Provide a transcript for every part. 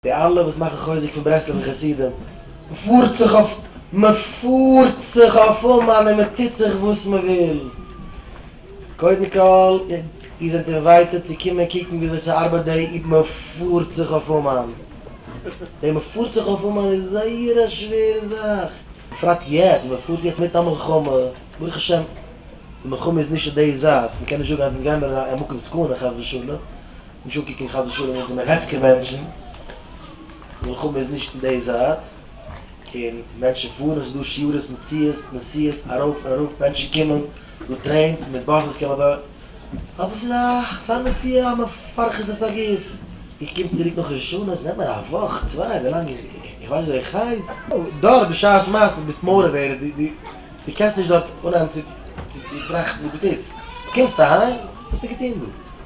די אלע וואס מאכן חוזק פון ברסלב'ע חסידים, מ'פארט זיך אויף, מ'פארט זיך אויף אומאן און מ'טוט זיך וואס מ'וויל. קודם כל, איר זענט אינווייטעד צו קומען קוקן וויאזוי ס'ארבייט די איב מ'פארט זיך אויף אומאן. די מ'פארט זיך אויף אומאן איז זייער א שווערע זאך. בפרט יעצט, מ'פארט יעצט מיטן א מלחמה, ברוך השם די מלחמה איז נישט אויף די זייט, מ'קען נישט זאגן אז אונז גיימער אין א מקום סכנה חס ושלום, נישט אנקוקן חס ושלום ווען זעמיר הפקר מענטשן, מלחמה איז נישט אין די זייט, און מענטשן פארן, עס איז דא שיעוריס מיט ציעס, נסיעות ארויף און אראפ, מענטשן קומען, דא טרעינס, מיט באסעס קען מען דארט, אבער עס איז א, ס'איז א נסיעה א מפרכת את הגוף, איך קום צוריק נאך ראש השנה, עס נעמט מיר א וואך, צוויי, ווילאנג איך ווייס ווי איך הייס. דארט בשעת מעשה ביסט מעורב ווערען, דו קענסט נישט דארט אנהייבן צו טראכטן וואס דו טוסט, דו קומסט אהיים, וואס האסטו געטון דא?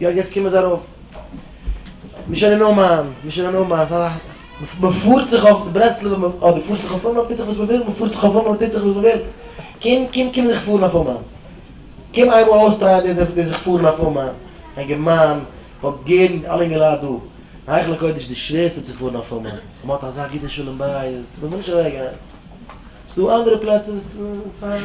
יא יעצט קומען זיי ארויף. מישען אין אומאן, מישען אין אומאן, סא מ'פארט זיך אויף ברסלב, אדער מ'פארט זיך אויף אומאן, מ'טוט זיך וואס מ'וויל, מ'פארט זיך אויף אומאן, מ'טוט זיך וואס מ'וויל. קום קום קום זיך פארן אויף אומאן. קום איינמאל אויסטרייען די די זיך פארן אויף אומאן. אינגער מאן, כ'וואלט גערן אלע אינגעלייט דא. אין היכל הקודש די שווערסטע צו פארן אויף אומאן. מ'האט אזא גוטע שלום בית, מ'וויל נישט אוועקגיין. ס'דא אנדערע פלעצער וואס ס'פיין.